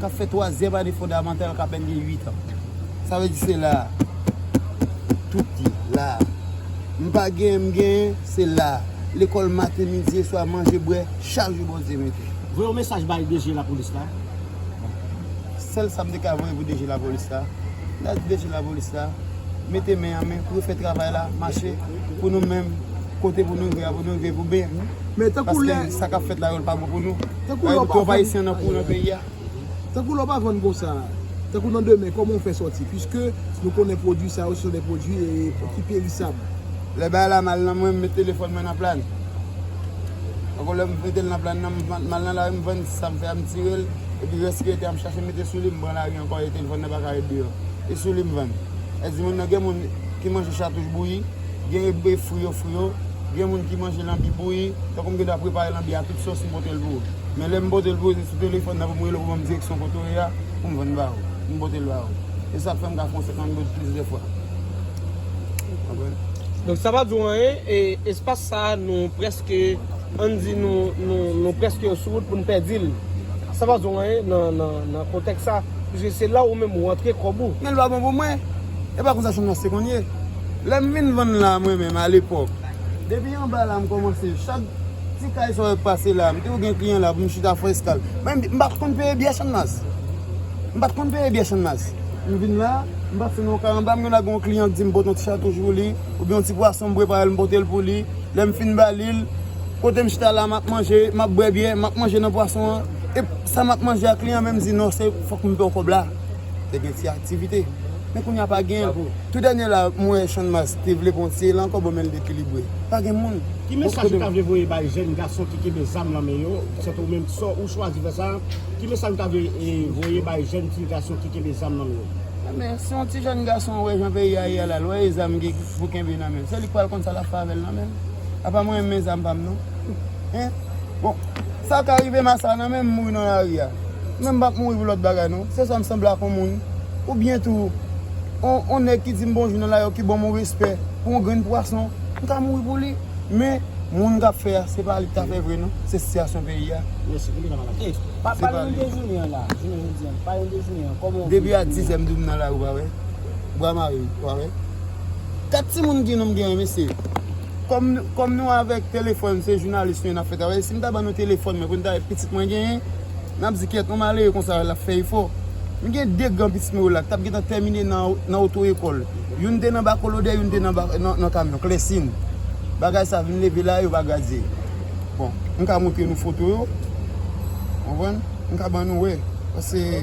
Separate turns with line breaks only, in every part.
k ap fè twazyèm ane fondamantal k apèn gen uitan. Sa vle di se la a tout ye, la a. M pa gen, m gen, se la a. Lekòl maten, midi e swa, manje, bwè, chak jou Bondye mete. Voye yon mesaj bay
DG Lapolis la.
Sèl sa m te ka voye pou DG Lapolis la, m ta di DG Lapolis la, mete men an men pou yo fè travay la mache pou nou menm, kote pou nou rive a pou nou rive pou byen. Paske
sa k ap
fèt la
yo l
pa bon pou nou. Tankou lè w pa vann Tankou lè w pa
vann konsa Tankou nan demen kòman w fè sòti Piske nou konnen pwodui sa yo se de pwodui ki perisab Lè bagay la
mal nan mwen m met telefòn mwen nan plàn Tankou lè m mete l nan plàn nan m al nan lari m vann sa m fè a m tire l epi rès ki rete a m chache m mete sou li m pran lari ankò e telefòn nan pa ka ret deyò e sou li m vann Èzimond nan gen moun ki manje chatouj bouyi. Gen e e fri yo fri yo, gen moun ki manje lanbi bouyi, tankou m gen dwa prepare lanbi a tout sòs m pote l pou ou. Men lè m pote l pou ou se sou telefòn nan pou m rele w pou w ban m direksyon kote w ye a pou m vann ba ou. M pote l ba ou. Se sa k fè m ka fè yon 50 goud plis dèfwa. Ou konprann?
Donk sa pa di w anyen e espas sa a nou prèske ann di nou nou prèske sou wout pou n pèdi l. Sa pa di w anyen nan kontèks sa a. Piske se la ou menm ou antre kòb ou. Men l pa bon pou mwen.
E pa konsa chanm nan se konn ye. Lèm fin vann la mwen menm a lepòk depi anba la m kòmanse chak ti kay sa yo k pase la m toujou gen kliyan la pou m chita fè eskal men m pat konn peye byè channmas m pat konn peye byè channmas m vin la m pase nan yon kay anba m gen la gen yon kliyan k di m pote yon ti chatouch pou li oubyen yon ti pwason m prepare l m pote l pou li lèm fin ba li l kote m chita la m ap manje m ap bwè byè m ap manje nan pwason an ep sa m ap manje a kliyan menm di non se fòk m ba w kòb la. te gen ti aktivite. Men kounye a pa gen anko. Tou dènye la m wè Channmas te vle pran ti elan anko bon men l dekilibre. Pa gen moun. Ki mesaj ou ta vle
voye bay jèn gason ki kenbe zam lan men yo, sèto ou menm so ou chwazi fè sa, ki mesaj ou ta vle voye bay jèn fi gason ki kenbe zam nan men yo? Ebyen si yon ti
jèn gason wè jan peyi a ye a la, l wè e zam ki pou kenbe nan men l, se li k pral konn sa l ap fè avè l nan men l. Apa m renmen zam pa m non. Hein! Bon, sa ka rive m a sa nan men m mouri nan lari a. Mwen m pap mouri pou lòt bagay non. Se sa m sanble ak on moun. Ou byen tou, on on nèg ki di m bonjou nan laye w ki ban m on respè pou on grenn pwason, m ka mouri pou li. Men, moun k ap fè a, se pa li k ta fè vre non. Se sitiyasyon peyi a. Mèsi pou mitan
madanm. Ey, pa pale nou de jounen an la. Jounen jodi an. Pale nou de jounen an. Kòman ou viv jounen an? Depi a dizè m di w m
nan lari w pa wè. Bwa mare, ou pa wè. Kat timoun ki non m genyen, mesye? Kòm kòm nou avèk telefòn se jounalis nou ye nap fè travay si m ta ban nou telefòn mwen pou n ta wè pitit mwen genyen nap di kyèt yon malere konsa lap fè efò m gen 2 gran pitit mwen yo la k tap gentan tèmine nan oto ekòl youn te nan bako lodè youn te nan kamyon klèsin bagay sa vin leve la yo pa gradye bon m ka montre nou foto yo konprann m ka ban nou wè paske.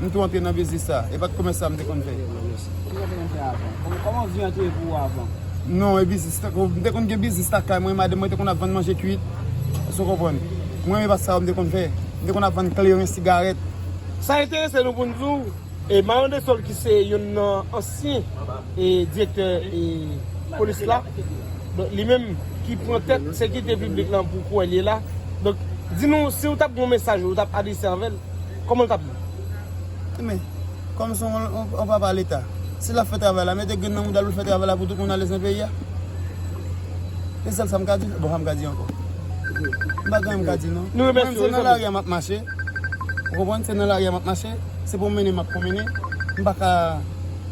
M tou antre nan biznis sa. E pat komès sa m te konn fè. Ki sa w te konn fè avan?
Kòman w di antre pou ou avan? Non, e biznis
ta kou. M te konn gen biznis lakay mwen. Madanm mwen te konn ap vann manje kuit. Èske w konprann? M renmen pase sa yo m te konn fè. M te konn ap vann kleren, sigarèt. Sa enterese
nou pou n di w, e Maron Desaulles ki se youn nan ansyen e direktè e polis la, donk li menm ki pran tèt sekirite piblik lan pou kouwè l ye la. Donk, di nou si w t ap gen yon mesaj ou t ap adrese avè l,
Kòman l t ap. Men, kòm se yon papa leta, si l ap fè travay la, mete grenn nan mouda l pou l fè travay la pou tout moun alèz nan peyi a. Se sèl sa m ka di. Bon, sa m ka di ankò. M pa gen anyen m ka di non. Mwen menm se nan lari a m
ap mache.
Ou konprann? Se nan lari a m ap mache. Se pou m mennen m ap pwonmennen. M pa ka,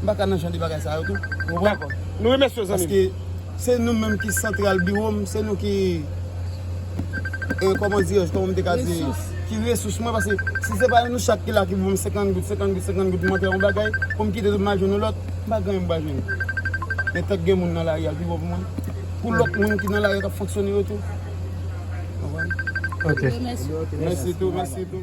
m pa ka nan jan de bagay sa yo tou. Ou konprann? Dakò. Nou
remèsye w zanmi m.
Paske se nou menm ki santral biwo m. Se nou ki. kòman dirè, kòman m te ka di, ki resous mwen, paske si se pa nou chak ki la ki ban m 50 goud, 50 goud, 50 goud pou mwen fè yon bagay, pou m kite tout m al jwenn yon lòt, m pa gen, m pa jwenn. Men tank gen moun nan lari a l pi bon pou mwen, pou lòt moun ki nan lari a k ap fonksyone yo tou. Konprann? Ok. Mèsi tou, mèsi tou.